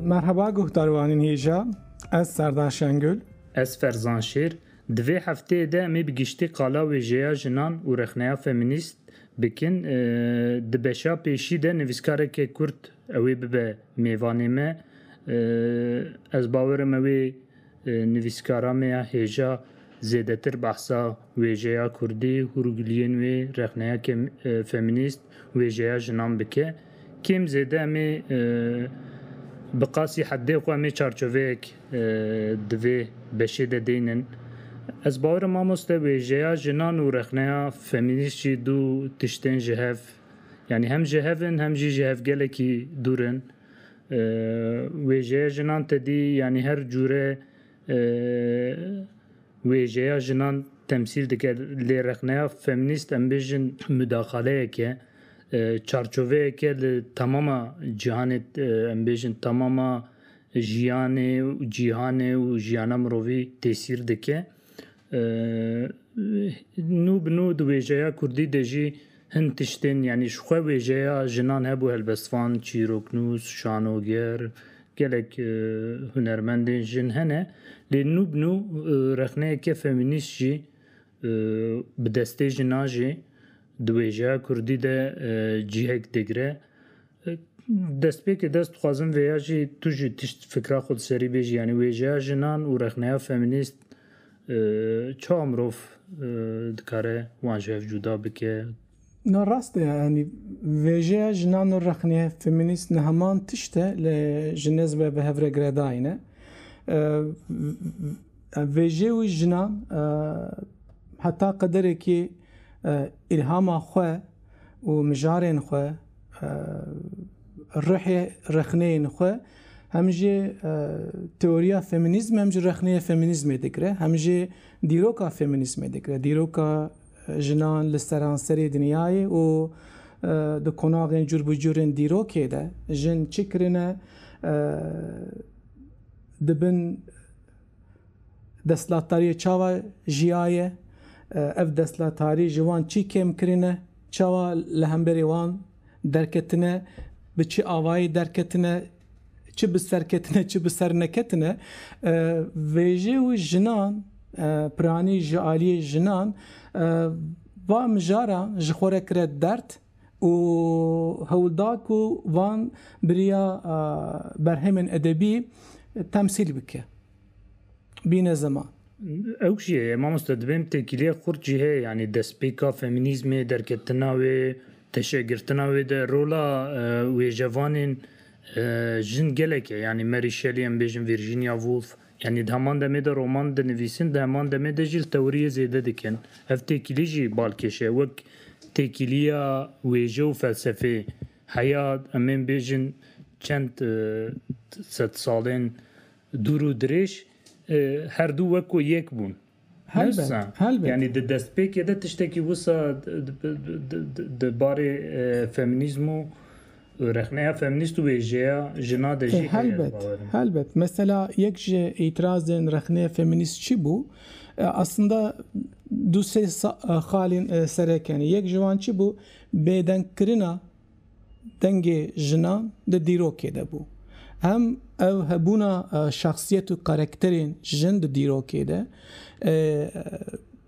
Merheba guhdar wanên hêja ez Serdar Şengül. Ez Ferzan Şêr. Di vê hefteyê de em ê bi giştî qala wêjeya jinan û rexneya femînîst bikin. Di beşa pêşî de nivîskareke Kurd ew ê bibe mêvanê me. Ez bawerim ew ê Nivîskara me ya hêja zêdetir behsa wêjeya kurdî, hûrgiliyên wê, rexneya kêm femînîst, wêjeya jinan bike. Kêm zêde em ê bi qasî heddê xwe em ê çarçoveyek di vê beşê de deynin. Ez bawer im mamoste wêjeya jinan û rexneya femînîst jî du tiştên ji hev yanî hem ji hev in hem jî ji hev gelekî dûr in. Wêjeya jinan tedî yanî her cûre wêjeya jinan temsîl dike. Lê rexneya femînîst em bêjin mudaxaleyeke, çarçoveyeke li temama cîhanê em bêjin temama jiyanê û cîhanê û jiyana mirovî tesîr dike Nû bi nû di wêjeya kurdî de jî hin tiştên yanî ji xwe wêjeya jinan hebû helbestvan, çîroknûs, şanoger, gelek hunermendên jin hene lê nû bi nû rexneyeke femînîst jî bi destê jinan jî di wêjeya kurdî de cihek digre. Destpêkê dest dixwazim vê ya jî tu jî tişt fikra xwe di serî bêjî yanî wêjeya jinan û rexneya femînîst çawa mirov dikare wan ji hev cuda bike? Na rast e yanî vêjeya jinan û rexneya femînîst ne heman tişt e lê ji nêz ve bi hev re giredayîn e. Vêjê wî jinan heta qederekî îlhama xwe û mijarên xwe, ruhê rexneyên xwe hem jî teoriya feminîzm hem jî rexneyê feminîzmê digire, hem jî dîroka feminîzmê digire. Dîroka jinan li seranserê dinyayê û di konaxên cûr bi cûrên dîrokê de jin çi kirine dibin Destlatdariyê çawa jiyaye, ev destlatarî ji wan çî kêm kirine, çawa li hemberê wan derketine, bi çi avayî derketine, çi bi ser ketine, çi bi ser neketine. Vêjê û jinan, piranî ji aliyê jinan va mijaran ji xwe re kire derd. û hewl da ku van bi riya berhemên edebî temsîl bike. Bîne ziman. Ew jî heye mamoste dibên têkîliyek xurt jî heye yanî destpêka femînîzmê, derketina wê, teşegirtina wê de rola wêjevanên jin gelek e yanî Mary Shelley em bêjin Virginia Woolf Yanî di heman demê de roman dinivîsin, di heman demê de jî li tewiriyê zêde dikin. Ev têkilî jî balkêş e, wek têkiliya wêje û felsefê. Heya em ên bêjin çend sedsalên dûr û dirêj her du wek ku yek bûn. Helbet, Nirsa, helbet. Yanî di destpêkê de tiştekî wisa di barê feminîzm û rexneya feminîst û wêjeya jina de jî heye ez Helbet, bawer im. helbet. Mesela yek ji îtirazên rexneya feminîst çi bû? Aslında du sê xalên serek hene. Yek ji wan çi bû? Bêdengkirina dengê jinan di dîrokê de bû. Hem ev hebûna şexsiyet û karakterên jin di dîrokê de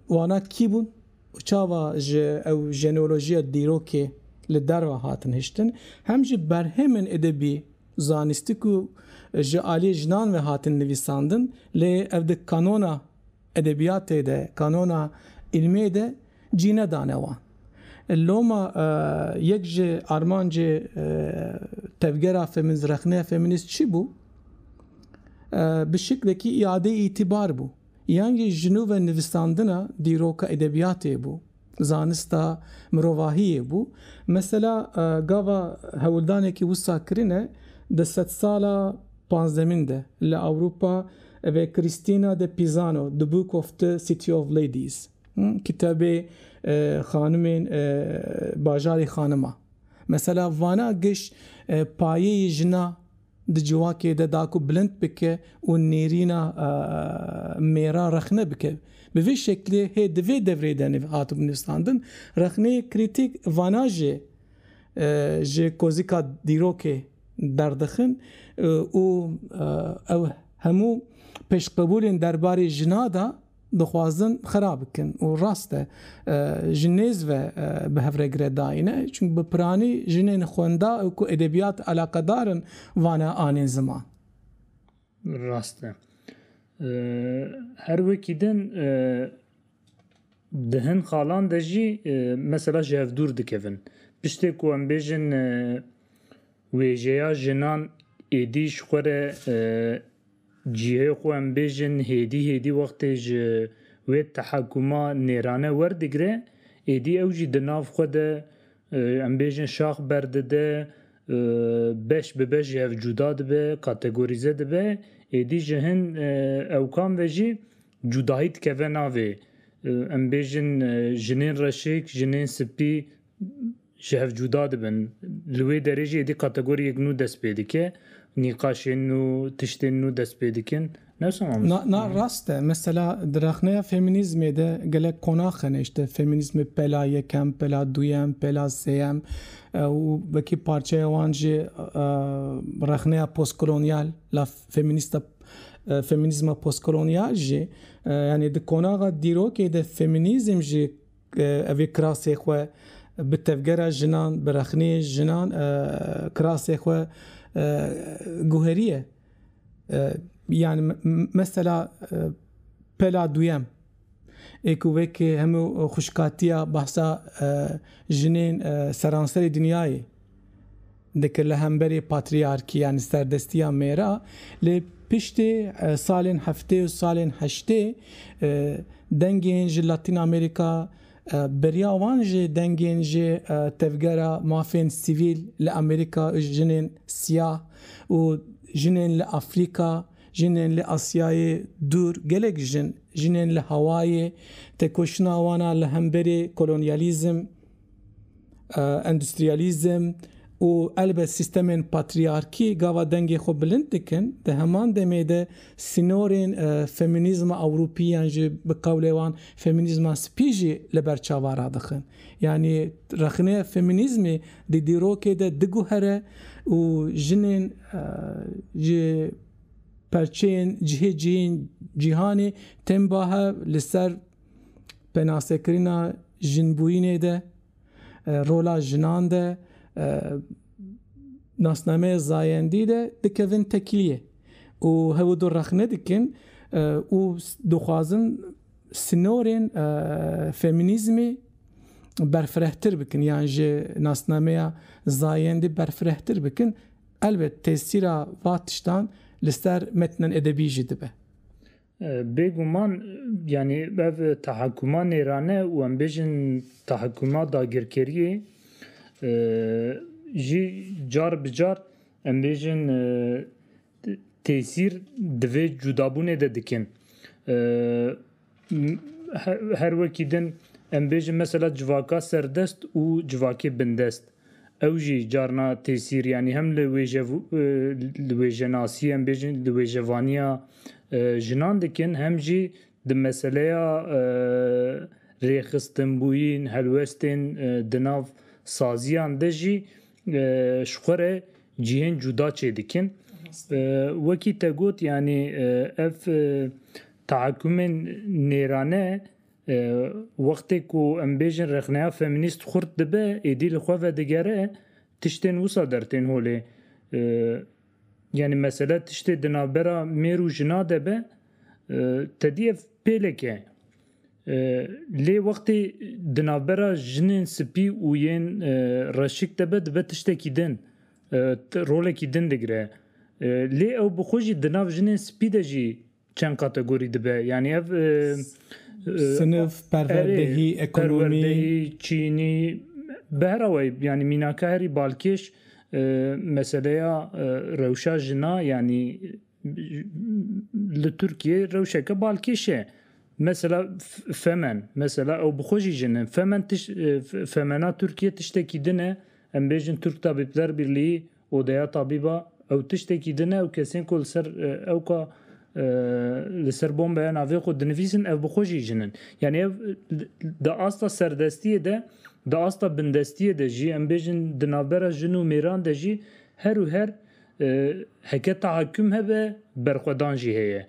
wana kî bûn û çawa ji ew jeneolojiya dîrokê li derve hatin hiştin, hem jî berhemên edebî, zanîstik û ji aliyê jinan ve hatin nivîsandin lê ev di kanona. Edebiyatê de, kanona îlmê de cî nedane wan. Loma yek ji armancê tevgera femînîst, rexneya femînîst çi bû? Bi şiklekî îadeyê îtîbar bû. Yan jî jinû ve nivîsandina dîroka edebiyatê bû. zanista mirovahiyê bû. Mesela gava hewldanekî wisa kirine di sedsala panzdemîn de li Ewropa ve Christina de Pisano The Book of the City of Ladies, Kitabê Xanimên Bajarê Xanima, mesela vana giş payeyê jina, di civakê de da ku bilind bike û nêrîna mêra rexne bike. Bi vê şeklê hê di vê devrê de nîv hatibû nivîsandin. Rexneyê krîtîk vana jê ji kozika dîrokê derdixin û ew hemû pêşqebûlên derbarê jina da, dixwazin xera bikin û rast e ji nêz ve bi hevregire dayîne çunku bi piranî jinên xwenda û ku edebiyat eleqedar in vane anîn ziman. Rast e. Her wekî din di hin xalan de jî mesela ji hev dûr dikevin. Piştê ku em bêjin wêjeya jinan êdî ji xwe re Cihê xwe em bêjin hêdî hêdî wextê ji wê tehekuma nêrane werdigire, êdî ew jî di nav xwe de em bêjin şax berdide, beş bi beş ji hev cuda dibe, kategorîze dibe, êdî ji hin ewkan ve jî cudahî dikeve navê. Em bêjin jinên reşik, jinên spî. ji hev cuda dibin. Li wê derê jî êdî kategoriyek nû dest pê dike, nîqaşên nû, tiştên nû dest pê dikin. Ne wisa mamoste? Na, na rast e. Mesela di rexneya femînîzmê de gelek qonax hene îşte femînîzmê pela yekem, pela duyem, pela sêyem û wekî parçeya wan jî rexneya postkolonyal la femînîsta femînîzma postkolonyal jî yanî di qonaxa dîrokê de femînîzm jî Ev ê kirasê xwe bi tevgera jinan, bi rexnê jinan kirasê xwe guheriye. Yan mesela pela duyem ê ku wekî hemû xwişkatiya behsa jinên seranserê dinyayê. Dike li hemberî patrîarkîya li serdestîya mêra lê piştî salên heftê û salên heştê dengên ji Latîn Amerîka beriya wan jî dengên ji tevgera mafên sivîl li Amerîka û jinên siyah û jinên li Afrîka jinên li Asyayê dûr gelek jin jinên li Hawayê tekoşina wan a li hemberî kolonyalîzm Endûstriyalîzm û elbet sîstemên patrîyarkî gava dengê xwe bilind dikin, di heman demê de sînorên feminîzma ewropî yan jî bi qewlê wan feminîzma spî jî li ber çava radixin. Yanî rexneya feminîzmê di dîrokê de diguhere û jinên ji perçeyên cihê cihê cîhanê tên ba hev li ser penasekirina jinbûyînê de, rola jinan de, nasnameya zayendî de dikevin tekiliyê û hewl du rexne dikin û dixwazin sinorên feminîzmê berfirehtir bikin yan ji nasnameya zayendî berfirehtir bikin. Elbet tesîra va tiştan li ser metnan edebî jî dibe. Bêguman yanî ev tahekkuma nêrane û em bêjin tahekkuma dagirkeriyê jî car bi car em bêjin têsîr di vê cudabûnê de dikin. Her wekî din em bêjin mesela civaka serdest û civakê bindest. Ew jî carna têsîr yanî hem li li wêjenasî em bêjin li wêjevaniya jinan dikin hem jî di meseleya rêxistinbûyîn, helwestên di nav saziyan de jî ji xwe re cihên cuda çê dikin. Wekî te got yanî ev tahekumên nêrane Wextê ku em bêjin rexneya feminîst xurt dibe, êdî li xwe vedigere, tiştên wisa dertên holê. Yanî mesele tiştê di navbera mêr û jina de be, tedî ev pêlek e. Lê wextê di navbera jinên spî û yên reşik de be, dibe tiştekî din, rolekî din digire. Lê ew bi xwe jî di nav jinên spî de jî Çend kategorî dibe yanî ev? Sinif, perwerdehî, ekonomî, çînî bi her awayî yanî mînaka herî balkêş meseleya rewşa jina yanî li Tirkiyê rewşeke balkêş e. Mesela femen mesela ew bi xwe jî jin in femen tişt femena Tirkiyê tiştekî din e em bêjin Tirk Tabîpler Birlîyî Odeya tabîba ew tiştekî din e û kesên ku li ser ew ka li ser bombeya navê xwe dinivîsin ev bi xwe jî jin in. Yanî ev di asta serdestiyê de, di asta bindestiyê de jî em bêjin di navbera jin û mêran de jî her û her heke tahakküm hebe berxwedan jî heye.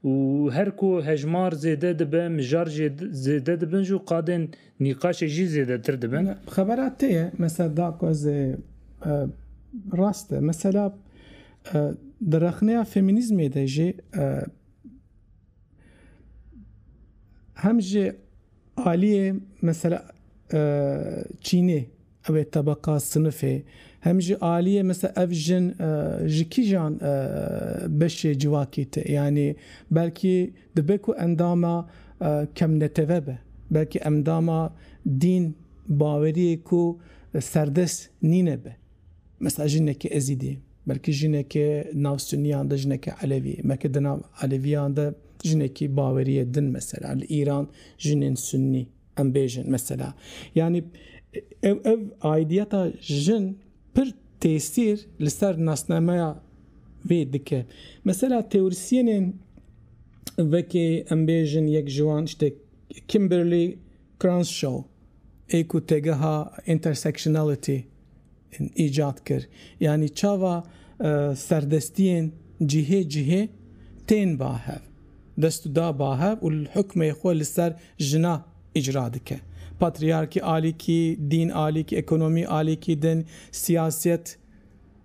Û her ku hejmar zêde dibe, mijar jî zêde dibin jî û qadên nîqaşê jî zêdetir dibin. Xebera te ye mesela da ku ez ê rast e. Mesela di rexneya feminîzmê de jî hem ji. Aliyê mesela çînê ew ê tebeqa sinifê hem jî aliyê mesela ev jin ji kîjan beşê civakî tê yanî belkî dibe ku endama kemneteve be belkî endama dîn baweriyê ku serdest nîne be. Mesela jineke Ezîdî, belkî jineke nav Sunniyan de jineke Elevî, belkî di nav Elevîyan de jinekî bawerîye din mesela li Îran jinên Sunnî em bêjin mesela yanî ev ev aîdîyeta jin pir têsîr li ser nasnameya vê dike. Mesela teorîsyenên vekê em bêjin yek ji wan işte Kimberly Crenshaw ê ku têgeha Intersectionality îcat kir. Yanî çava serdestiyên cihê cihê tên ba hev, dest û da ba hev û hukmê xwe li ser jina îcra dike. Patriyarkî alîkî, dîn alîkî, ekonomî alîkî din, siyasîyet,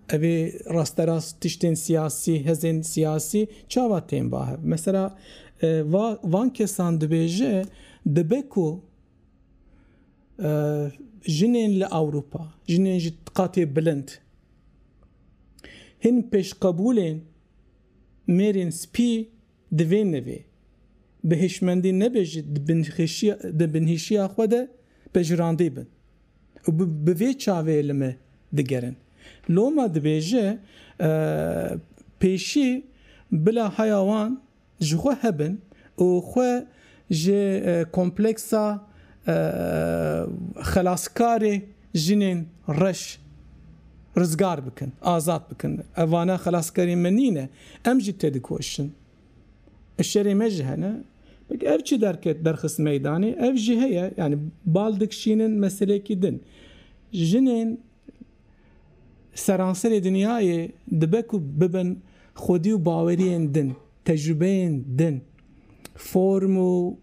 evê rasterast tiştên siyasî, hêzên siyasî çava tên ba hev? Mesela va van kesan dibêje dibe ku Jinên li Ewropa, jinên ji qatê bilind hîn pêşqebûlên mêrên spî divê nivê bi hişmendî nebe jî di binhişiya xwe de pejirandî bin û bi vê çavê li me digerin. Loma dibêje pêşî bila heya wan. Ji xwe hebin û xwe ji kompleksa xelaskarê jinên reş rizgar bikin, azad bikin. Ev vana xelaskarên me nîne. Em jî tedikoşin. Şerê me ji hene. Belkî ev çi derket derxist meydanê ev jî heye. Yanî bal dikşînin meseleyekî din. Jinên. Li seranserê dinyayê dibe ku bibin xwedî û baweriyên din, tecrûbeyên din, form û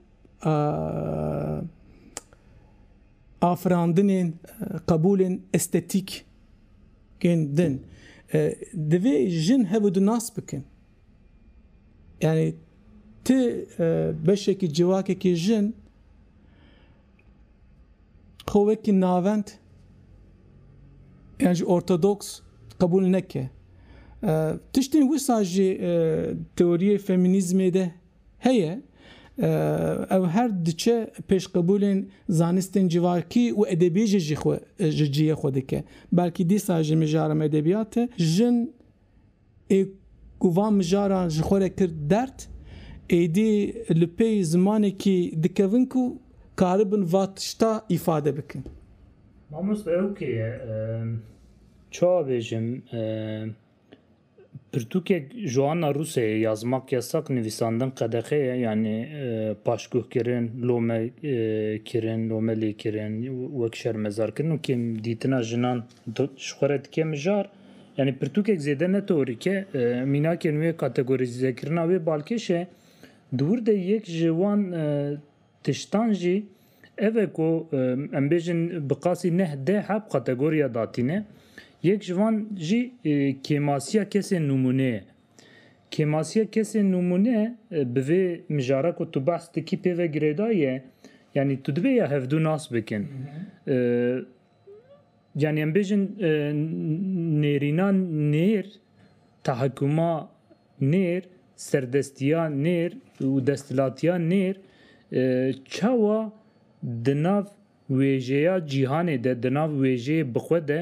afirandinên qebûlên estetîkên din. Divê jin hev û du nas bikin. Yanî tu beşekî civakekî jin. Xwe wekî navend yan jî ortodoks qebûl neke. Tiştên wisa jî teoriyê femînîzmê de heye. Ew her diçe pêş qebûlên zanistên civakî û edebiyê jî ji cihê xwe dike. Belkî dîsa ji mijaran edebiyatê jin ê ku van mijaran ji xwe re kir derd, êdî li pêy zimanekî dikevin ku karibin va tişta îfade bikin. Mamoste ew kê ye? Çawa bêjim? Pirtûkek ji ana Rûsyayê ya zimak yasak nivîsandin qedexe ye, yanî paşguhkirin, lome kirin, lome lêkirin, wek şermezarkirin û kêm dîtina jinan ji xwe re dike mijar. Yanî pirtûkek zêde ne teorîk e. Mînakên wê kategorîzekirina wê balkêş e. Di wir de yek ji wan tiştan jî ev e ku em bêjin bi qasî neh deh heb kategoriya datîne. Yek ji wan jî kêmasiya kesên nûmûne ye. Kêmasiya kesên nûmûne bi vê mijara ku tu behs dikî pê ve girêdayî ye. Yanî tu divê ya hevdu nas bikin. Yanî em bêjin nêrîna nêr, tahakkuma nêr, serdestiya nêr û desthilatiya nêr çawa di nav wêjeya cîhanê de, di nav wêjeyê bixwe de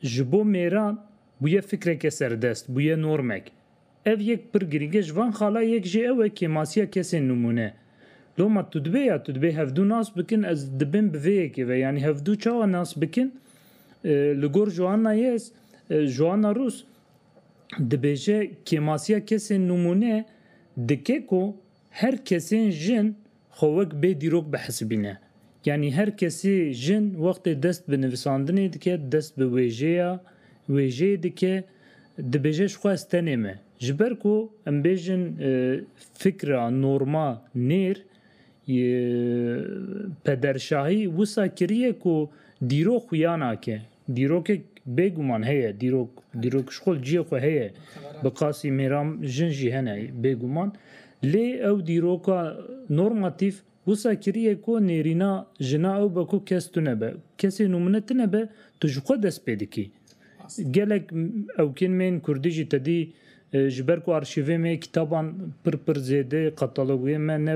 ji bo mêran bûye fikreke serdest, bûye normek. Ev yek pir girîng e ji van xala yek jî ew e kêmasiya kesên nimûne. Loma tu dibê ya tu dibê hevdu nas bikin ez dibim bi vê yekê ve yanî hevdu çawa nas bikin li gor Joanna Yes Joanna Rus dibêje kêmasiya kesên nimûne dike ku Her kesên jin xwe wek bê dîrok bihesibîne. Yanî her kesê jin wextê dest bi nivisandinê dike, dest bi wêjeya wêjeyê dike, dibêje ji xwe ez tenê me. Ji ber ku em bêjin fikra norma nêr yê pederşahî wisa kiriye ku dîrok xuya nake. Dîrokek bêguman heye, dîrok dîrok ji xwe ciyê xwe heye. Bi qasî mêram jin jî hene bêguman. Lê ew dîroka normatîf wisa kiriye ku nêrîna jina ew be ku kes tune be. Kesê nûmune tune be, tu ji xwe dest pê dikî. Gelek ewkên me yên kurdî jî tedî ji ber ku arşîvê me kitaban pir pir zêde, katalogê me ne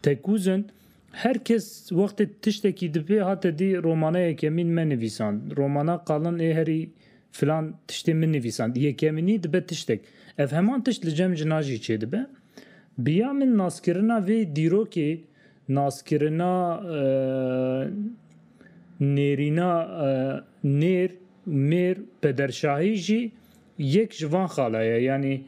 tekûz in, Her kes wextê tiştekî dipê hate dî romana yekemîn me nivîsand, romana Qalin ê herî filan tiştê min nivîsand, yekemînî dibe tiştek. Ev heman tişt li cem jina jî çêdibe. Bi ya min naskirina vê dîrokê naskirina nêrîna nêr, mêr, pederşahî jî Yek ji van xala ye. Yanî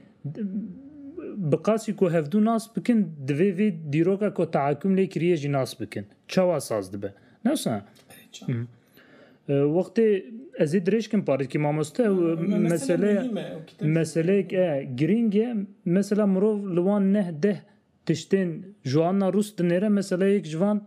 bi qasî ku hevdu nas bikin divê vê dîroka ku tehakum lê kiriye jî nas bikin. Çawa saz dibe? Newsa wextê ez ê dirêj kim parêzkî mamoste û meseleya meseleyek e girîng e. Mesela mirov li wan neh deh tiştên ji alna rûs dinêre mesela yek ji van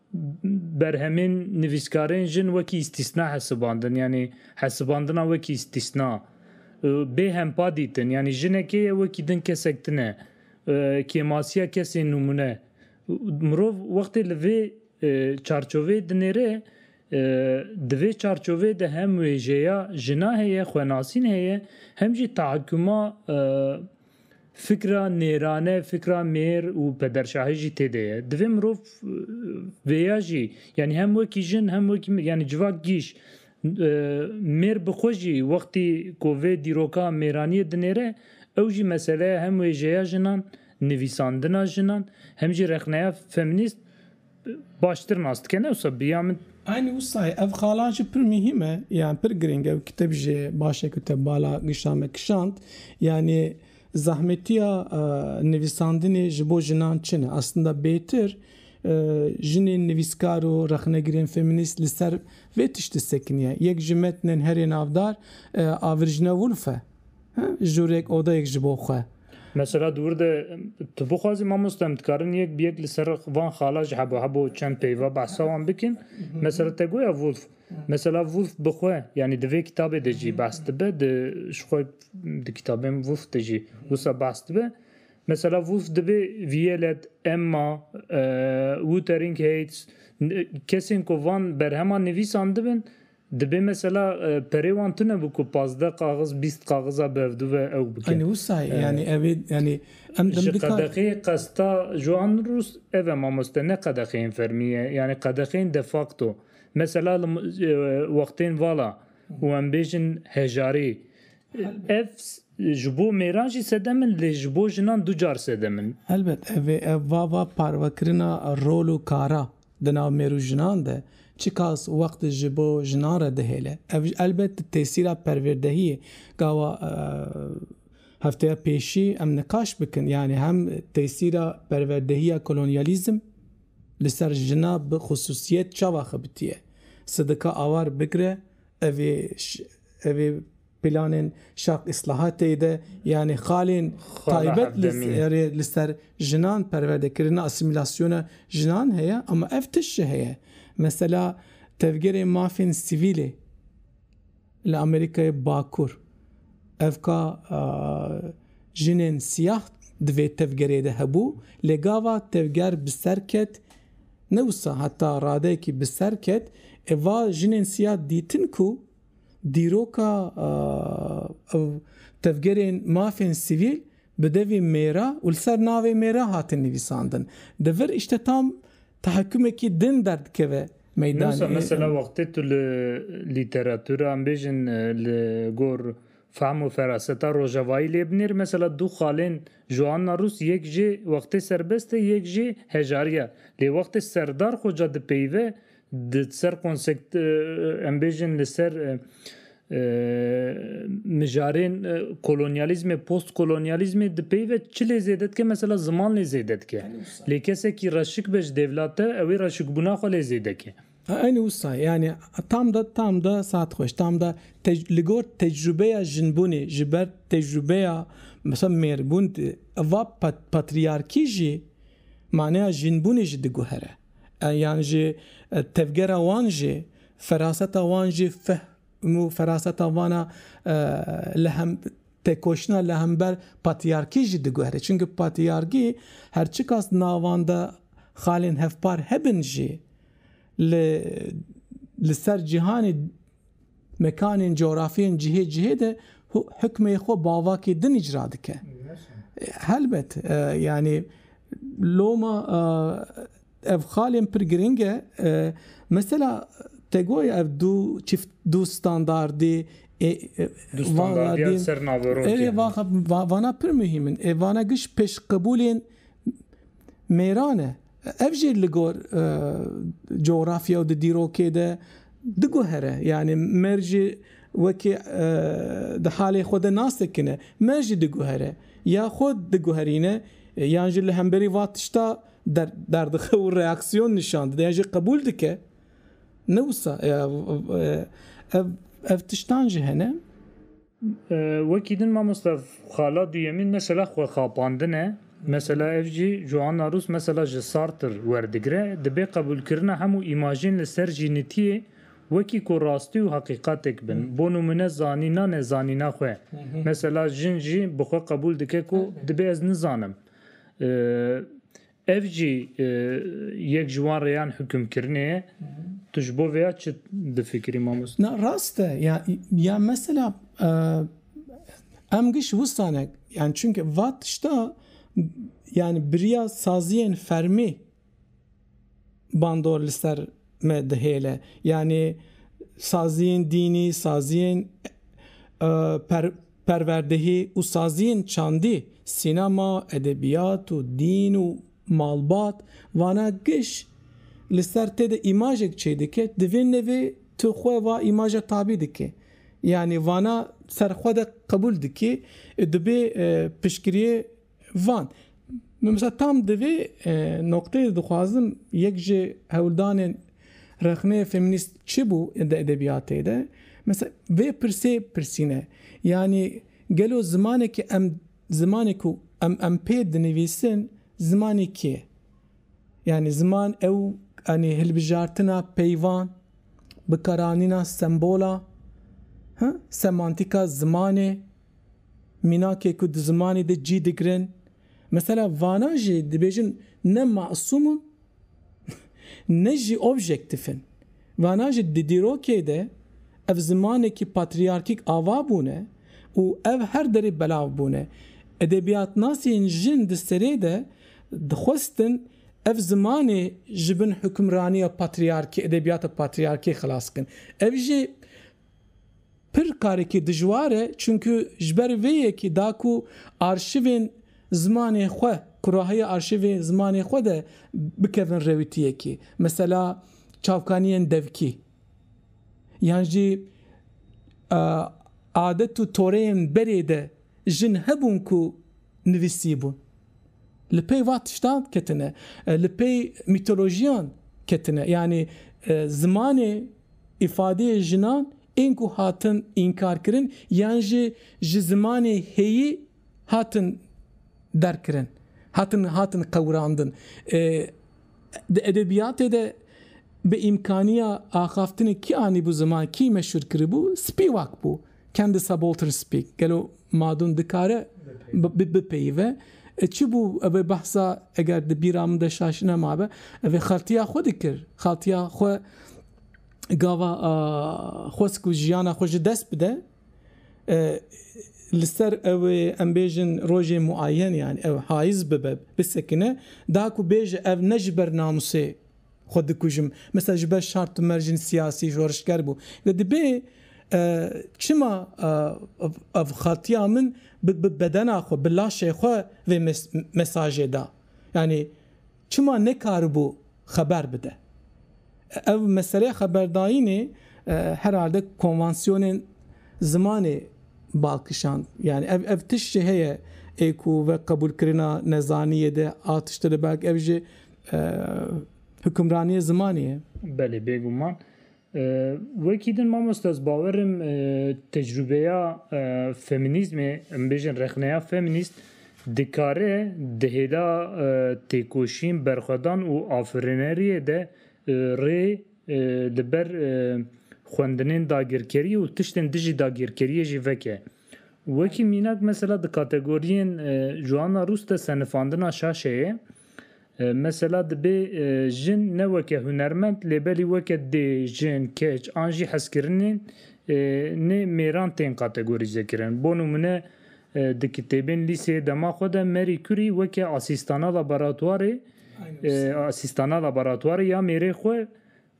Berhemên nivîskarên jin wekî îstîsna hesibandin, yanî hesibandina wekî îstîsna û bê hempa dîtin, yanî jinekê ye wekî din kesek tune, kêmasiya kesên nûmûne. Mirov wextê li vê çarçoveyê dinêre, di vê çarçoveyê de hem wêjeya jina heye, xwenasîn heye, hem jî teakuma Fikra nêrane, fikra mêr û pederşahî jî tê de ye. Divê mirov vêya jî yanî hem wekî jin hem wekî yanî civak gîş mêr bi xwe jî wextî ku vê dîroka mêraniyê dinêre ew jî meseleya hem wêjeya jinan, nivîsandina jinan hem jî rexneya femînîst, baştir nas dike ne wisa bi ya min. Aynî wisa ye ev xalan jî pir muhîm e yan pir girîng e wekî te bijî baş e ku te bala gişta me kişand yanî zahmetiya nivîsandinê ji bo jinan çi ne aslında bêtir jinên nivîskar û rexnegirên feminîst li ser vê tiştî sekiniye yek ji metnên herê navdar Avirjne Woolf e. Jûrek odayek ji bo xwe. Mesela di wir de tu bixwazî mamoste em dikarin yek bi yek li ser van xala ji hebo hebo û çend peyva behsa wan bikin. Mesela te goya Woolf. Mesela Woolf bi xwe yanî di vê kitabê de jî behs dibe di ji xwe di kitabên Woolf de jî wisa behs dibe. Mesela Woolf dibê Violet, Emma, Wuthering Heights kesên ku van berheman nivîsandibin, Dibê mesela perê wan tune bû ku pazdeh qaxiz, bîst qaxiza bi hevdu ve ew bikin. Anî wisa ye yanî ev ê yanî em Ji dimdikar. qedexeyê qesta Joan Rus ev e mamoste ne qedexeyên fermî ye yanî qedexeyên de facto. Mesela li wextên vala û em bêjin hejarî ev ji bo mêran jî sedem in lê ji bo jinan du car sedem in. Helbet ev ê ev va va parvekirina rol û kara Di nav mêr û jinan de çi kas û wext ji bo jinan re dihêle? Ev elbet di tesîra perwêrdehiyê gawa hefteya pêşî em niqaş bikin yanî hem tesîra perwerdehiya kolonyalîzm li ser jina bi xusûsiyet çawa xebitiye. Sidika awar bigre evê evê. Planên şaq îslahatê de yanî xalên taybet li ser jinan, perwerdekirina, asîmîlasyona jinan heye ama ev tişt jî heye. Mesela tevgerê mafên sivîlê li Amerîkayê Bakur ev ka jinên siyah di vê tevgerê de hebû lê gava tevger bi ser ket ne wisa heta radeyekî bi ser ket ê va jinên siyah dîtin ku Dîroka ew tevgerên mafên sivîl bi devê mêra û li ser navê mêra hatin nivîsandin. Di vir îşte tam tehekûmekî din derdikeve meydanê. Wisa mesela wextê tu li lîteratûra em bêjin li gor fehm û feraseta rojavayî lê binêr mesela du xalên Joanna Rûs yek jê wextê serbest e yek jê hejarî ya lê wextê serdar xwe ca dipeyive Di ser konsept em bêjin li ser mijarên kolonyalîzmê, postkolonyalîzmê di pey ve çi lê zêde dike mesela ziman lê zêde dike. Lê kesekî reşik be ji dêvla te ew ê reşikbûna xwe lê zêde ke. Eynî wisa yanî tam de tam de saet xweş tam de li gor tecrûbeya jinbûnê ji ber tecrûbeya mesela mêrbûn va patriyarkî jî maneya jinbûnê jî diguhere. yan jî tevgera wan jî feraseta wan jî fehm û feraseta vana li hem têkoşina li hember patrîyarkî jî diguherî. Çimkî patrîyarkî her çiqas di navan de xalên hevpar hebin jî li li ser cîhanê Mekanên, coğrafyên cihê cihê de hukmê xwe bavakê din îcra dike. Helbet yanî loma ev xalên pir giring e. Mesela te goyê ev du çift du standardê vana pir muhîm in. Ê vana giş pêşqebûlên mêran e. Ev jî li gor cografya û di dîrokê de diguhere. Yanî me jî wekî di halê xwe de nas dikine. Me jî diguhere. Ya xwe diguherîne yan jî li hemberî van tişta derdixe û reaksiyon nîşan dide yan jî qebûl dike. Ne wisa ev tiştan jî hene. Wekî din mamoste xala duyemîn mesela xwexapandin e. Mesela ev jî Joanna Rûs mesela ji Sartre werdigire, dibe qebûlkirina hemû îmajên li ser jînitiyê wekî ku rastî û heqîqatek bin. Bo nimûne zanîna nezanîna xwe. Mesela jin jî bi xwe qebûl dike ku dibê ez nizanim. Ev jî yek ji wan rêyan hukimkirinê ye. Tu ji bo vêya çi difikirî mamoste? Na rast e. Ya mesela em giş wisa ne. Yan çunke va tişta yani biriya saziyên fermî bandor li ser me dihêle. Yanî saziyên dînî, saziyên Perwerdehî û saziyên çandî, sînema, edebiyat û dîn û malbat, vana giş li ser tê de îmajek çêdike, di vê nevê tu xwe va îmaja tabî dikê. Yanî vana ser xwe de qebûl dikî, dibê piştgiriyê Van, min mesela tam di vê nokteyê de dixwazim yek ji hewldanên rexneyê feminîst çi bû di edebiyatê de, mesela vê pirsê pirsîne, yanî gelo zimanekî em zimanê ku em em pê dinivîsin zimanê kî ye? Yanî ziman ew yanî hilbijartina peyvan, bikaranîna sembola, semantîka zimanê. Mînakê ku di zimanê de cî digirin, mesela vanan jî dibêjin ne masûm in ne jî objektif in. Vanan jî di dîrokê de ev zimanekî patrîyarkîk ava bûne û ev her derê belav bûne. Edebiyatnasên jin di serê de dixwestin ev zimanê ji bin hukimraniya patrîyarkê, edebiyata patrîyarkê xilas bikin. Ev jî Pir karekî dijwar e çunku ji ber vê yekî da ku arşîvên zimanê xwe ku rahiya arşîvê zimanê xwe de bikevin rewîtiyekê mesela çavkaniyên devkî yan jî adet û toreyên berê de jin hebûn ku nivîsîbûn. Li pey va tiştan ketine. Li pey mîtolojiyan ketine. Yanî zimanê îfadeyê jinan ên ku hatin înkarkirin yan jî ji zimanê heyî hatin derkirin, hatin hatin qewirandin. Di edebiyatê de bi îmkaniya axaftinê kî anîbû ziman, kî meşûr kiribû? Spîwak bû. Can the subaltern speak? Gelo Madun dikare bipeyive? Çi bû evê behsa eger di bîra min de şaşî nemabe evê xeltiya xwe dikir. Xeltiya xwe gava xwest ku jiyana xwe ji dest bide li ser ewê em bêjin rojê muayen yani ew hayiz bibe bisekine da ku bêje ev ne ji ber namusê xwe dikujim. Misal ji ber şar tu mer jin siyasî şorişger bû. Lê dibê çima ev xatiya min bi bedena xwe, bi laşê xwe vê mesajê da. Yanî çima nekaribû xeber bide. Ev meseleya xeberdayînê herhalde konvansiyonên zimanê bal kişand. Yanî ev ev tişt jî heye ê ku ve qebûlkirina nezaniyê de a tiştê de belk ev jî Hukimraniyê zimanê ye. Belê bêguman. Wekî din mamoste ez bawer im tecrûbeya feminîzmê em bêjin rexneya feminîst dikare di hêla têkoşîn, berxwedan û afirineriyê de rê li ber xwendinên dagirkeriyê û tiştên dijî dagirkeriyê jî veke. Wekî mînak mesela di kategoriyên Joana Rûs de senifandina şaşeyê mesela dibê jin ne weke hunermend lê belî weke dê, jin, keç an jî hezkirinên nê mêran tên kategorîzekirin. Bo nimûne di kitêbên lîseyê dema xwe de Marie Curie weke asîstana laboratwarê asîstana laboratwarê ya mêrê xwe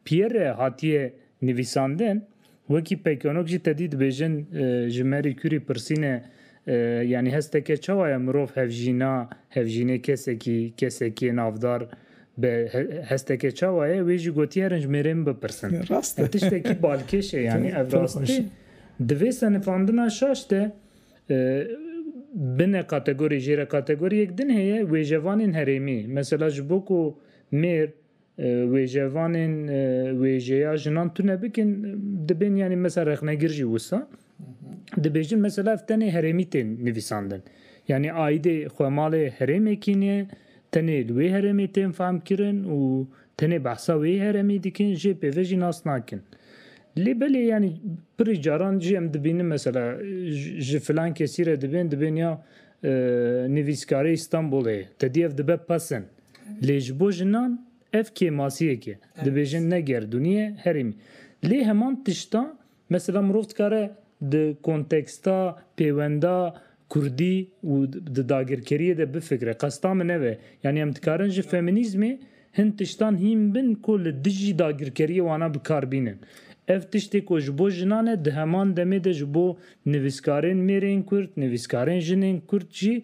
Pierre hatiye nivîsandin, wekî peykanok jî tedî dibêjin ji Marie Curie pirsîne yanî hesteke çawa ye mirov hevjîna, hevjînê kesekî, kesekiyê navdar be hesteke çawa ye, wê jî gotiye herin ji mêrê min bipirsin. Ev tiştekî balkêş e yanî ev rast e. Di vê senifandina şaş de bine kategorî, jêrekategorî yek din heye, wêjevanên herêmî. Mesela ji bo ku mêr Wêjevanên wêjeya jinan tune bikin dibên yanî mesela rexnegir jî wisa dibêjin mesela ev tenê herêmî tên nivîsandin. Yanî aîdê xwe malê herêmê kîniye tenê li wê herêmê tên fehmkirin û tenê behsa wê heremî dikin jê pê ve jî nas nakin. Lê belê yanî pirî caran jî em dibînin mesela ji filan kesî re dibên dibên ya nivîskarê Îstanbulê ye te dî ev dibe pesend. Lê ji bo jinan ev kêmasiyek e. Dibêjin ne gerdûnî ye, herêmî. Lê heman tişta mesela mirov dikare di konteksta, pêwenda kurdî û di dagirkeriyê de bifikire. Qesta min ev e. Yanî em dikarin ji femînîzmê hin tiştan hîn bin ku li dijî dagirkeriyê wana bi kar bînin. Ev tiştê ku ji bo jinan e di heman demê de ji bo nivîskarên mêrên kurd, nivîskarên jinên kurd jî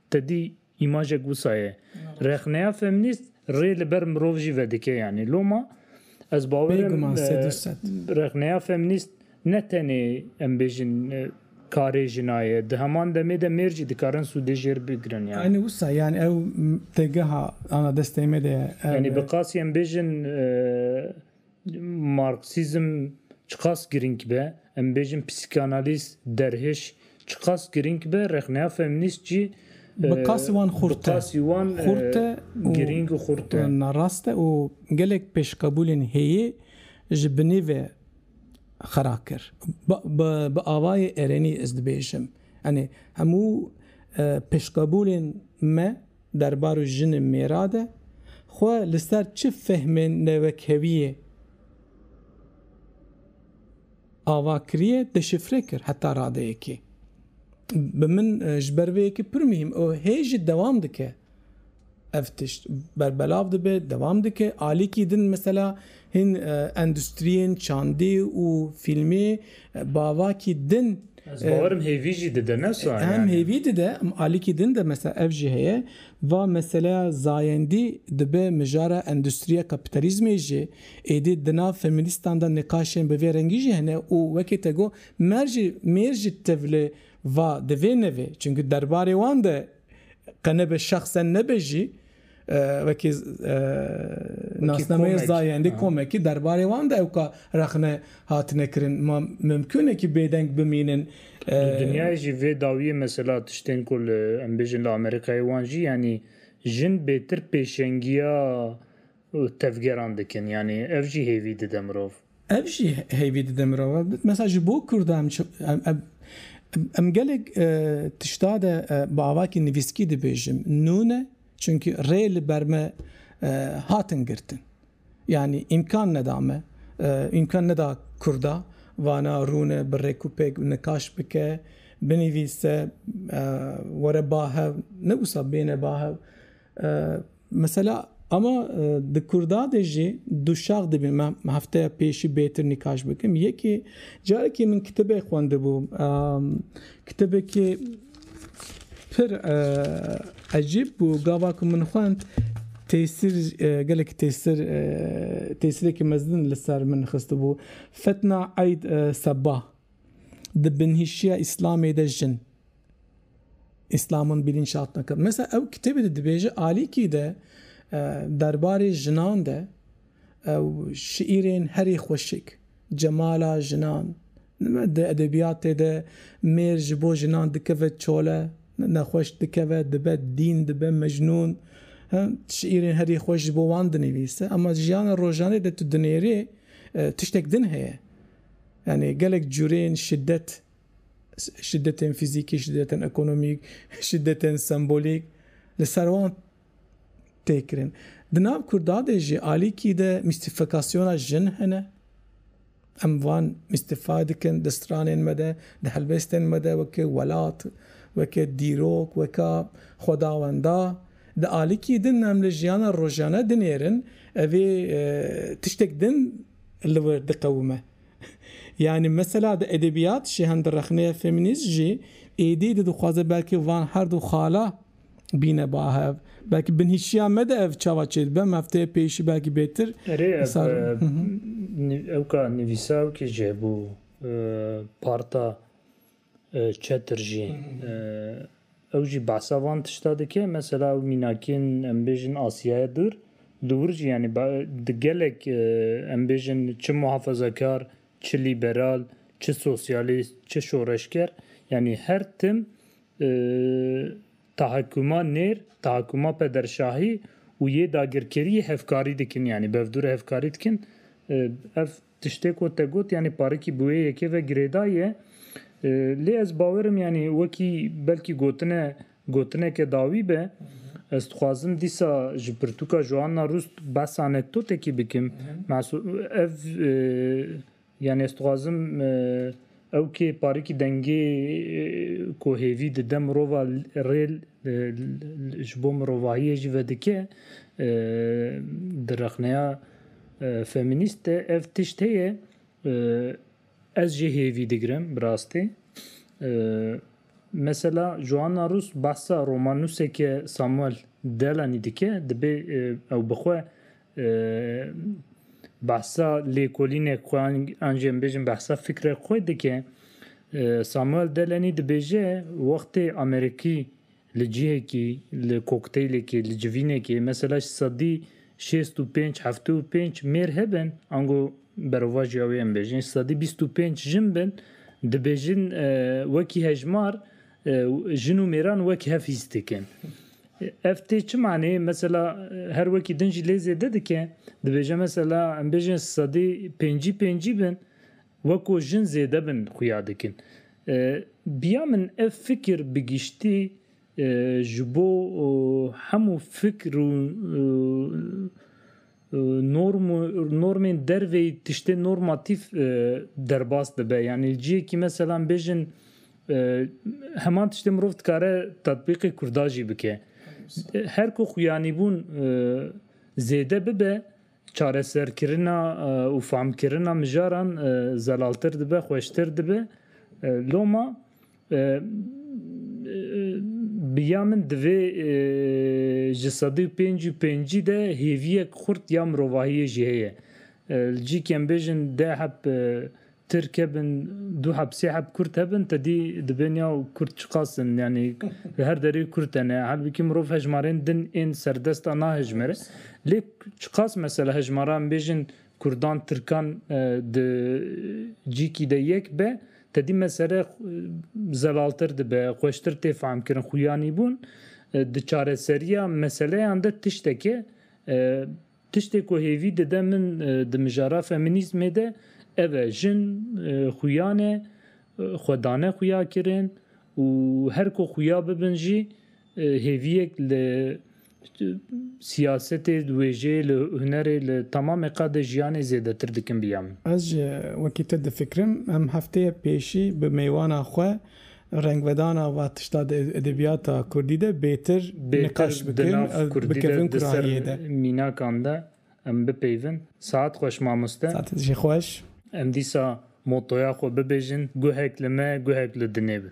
Te dî îmajek wisa ye. Rexneya feminîst rê li ber mirov jî vedike yanî. Loma ez bawer im rexneya feminîst ne tenê em bêjin karê jina ye. Di heman demê de mêr jî dikarin sûdê jê re bigirin yanî. Aynî wisa yanî ew têgeha ana destê me de ye. Yanî bi qasî em bêjin. Marksîzm çiqas girîng be, em bêjin psîkanalîz, derhêş çiqas girîng be, rexneya feminîst jî bi qasî wan xurt e. Xurt e û girîng û xurt e. Narast e û gelek pêşqebûlên hêyî ji binî ve xera kir. Bi avayê erenî ez dibêjim, yanî hemû pêşqebûlên me, derbarê jin û mêra de xwe li ser çi fehmên newekewiyê ava kiriye deşifre kir heta radeyekê. Bi min ji ber vê yekê pir muhîm û hê jî dewam dike ev tişt. Berbelav dibe, dewam dike. Alîkî din mesela Hin endustriyên çandî û fîlmî bavakî din. Ez bawerim hêvî jî dide ne sa yani. Hem hêvî dide alîkî din de mesela ev jî heye va meseleya zayendî dibe mijara endustriya kapîtalîzmê jî êdî di nav feminîstan de nîqaşên bi vê rengî jî hene û wekî te got mer jî mêr jî tevli va di vê nevê çimkî derbarê wan de qe nebe şexsen nebe jî Wekî nasnameyê zayendî komekî derbarê wan de ewka rexne hatine kirin. Ma mimkûn e kî bêdeng bimînin. Di dinyayê jî vê dawiyê mesela tiştên ku li em bêjin li Amerîkayê wan jî yanî jin bêtir pêşengiya tevgeran dikin. Yanî ev jî hêvî dide mirov. Ev jî heyvî dide mirova. Mesa ji bo Kurdan em gelek tişta de bi avakî nivîskî dibêjim nûne çunkî rê li ber me hatin girtin. Yanî îmkan neda me, îmkan neda Kurda vana rûne bi rêk û pêk nikaş bike, binivîse, were ba hev, ne wisa bêne ba hev. Mesela ama di Kurda de jî du şax dibîn. Me hefteya pêşî bêtir nîkaş bikim. Yekê carekê min kitêbê xwendibû. Kitêbekê pir ecîb bû. Gava ku min xwend tesîr gelekî tesîr tesîrekî mezin li ser min xistibû. Fetna Eid Sebah di binhîşiya Îslamê de jin. Îslaman bîlîn şat neke. Mesela ew kitêbê de dibêje alîkî de derbarê jinan de ew şîîrên herî xweşik, cemala jinan, di edebîyatê de mêr ji bo jinan dikeve çole, nexweş dikeve, dibe dîn, dibe mecnûn. Şîîrên herî xweş ji bo wan dinivîse. Ema di jiyana rojanê de tu dinêrî tiştek din heye. Yanî gelek curên şiddet. Şidetên fîzîkî, şidetên ekonomîk, şidetên sembolîk li ser wan tê kirin. Di nav Kurda de jî alîkî de mîstîfikasyona jin hene. Em van mîstîfa dikin di stranên me de, di helbestên me de weke welat, weke dîrok, weka xwedawenda. Di alîkî din em li jiyana rojane dinêrin evê tiştek din li wir diqewime. Yanî mesela di edebiyat jî hem di rexneya feminîst jî êdî di dixwaze belkî van her du xala bîne bahev. Belkî binhişiya me de ev çawa çêdibe em hefteyê pêy jî belkî bêtir. Erê ev ewka nivîsa ewkê ji hebû parta Çetir jî ew jî behsa van tişta dike. Mesela ew mînakiyên em bêjin Asiyaya Dûr li wir jî yanî di gelek em bêjin çi muhafazakar, çi lîberal, çi sosyalîst, çi şoreşger yanî her tim tahakkuma nêr, tahakkuma pederşahî û yê dagirkeriyê hevkarî dikin yanî bevdûre hevkarî dikin. Ev Tiştê ku te got yanî parikî bi wê yekê ve girêdayî ye. Lê ez bawer im yanî wekî belkî gotine gotineke dawî be. Ez dixwazim dîsa ji pirtûka Joanna Rust behsa anekdotekî bikim. Ev yanî ez dixwazim Ew kê parikî dengê ku hêvî dide mirova rê ji bo mirovahiyê jî vedike. Di rexneya femînîst de ev tişt heye. Ez jê hêvî digirim bi rastî. Mesela Joanna Rus behsa romannûseke Samuel Delany dike, dibê ew bi xwe behsa lêkolînek xwe an jî em bêjin behsa fikrek xwe dike. Samuel Delany dibêje wextê Amerîkî li cihekî li kokteylekê li civînekê mesela ji sedî şêst û pênc heftê û pênc mêr hebin ango Berovajiya wê em bêjin sedî bîst û pênc jin bin, dibêjin wekî hejmar jin û mêran wek hev hîs dikin. Ev tê çi maneyê mesela her wekî din jî lê zêde dike. Dibêje mesela em bêjin sedî pêncî pêncî bin weko jin zêde bin xuya dikin. Biya min ev fikir bi giştî ji bo hemû fikir û Norm û normên dervê tiştê normatîf derbas dibe. Yanî li cihekî mesela em bêjin heman tiştê mirov dikare tatbîqê kurda jî bike. Her ku xuyanîbûn zêde bibe çareserkirina û famkirina mijaran zelaltir dibe, xweştir dibe. Loma Bi ya min divê ji sedî û pênc û pêncî de hêviyek xurt ya mirovahiyê jî heye. Li cîkê em bêjin deh heb Tirk hebin, du heb sê heb Kurd hebin tedî dibên ya Kurd çiqas in yanî li her derê Kurd hene. Halbikî mirov hejmarên din ên serdest a nahejmire. Lê çiqas mesela hejmara em bêjin Kurdan, Tirkan di cîkî de yek be, Tedî mesele zelaltir dibe, xweştir tê fehmkirin. Xuyanîbûn di çareseriya meseleyan de tiştek e. Tiştê ku hêvî dide min di mijara femînîzmê de ev e, jin xuyan e, xwe dane xuyakirin û her ku xuya bibin jî hêviyek li Siyasetê, wêjê, li hunerê, li temamê qadê jiyanê zêdetir dikim biya min. Ez ji wekî te difikirim, em hefteyê pêşî bi mêwana xwe rengvedana va tişta di edebiyata kurdî de bêtir niqaş bikin û bikevin kurahiyê de. Mînakan de em bipeyvin. Saet xweş mamoste. Saet jî xweş. Em dîsa motoya xwe bibêjin, guhek li me, guhek li dinê bin.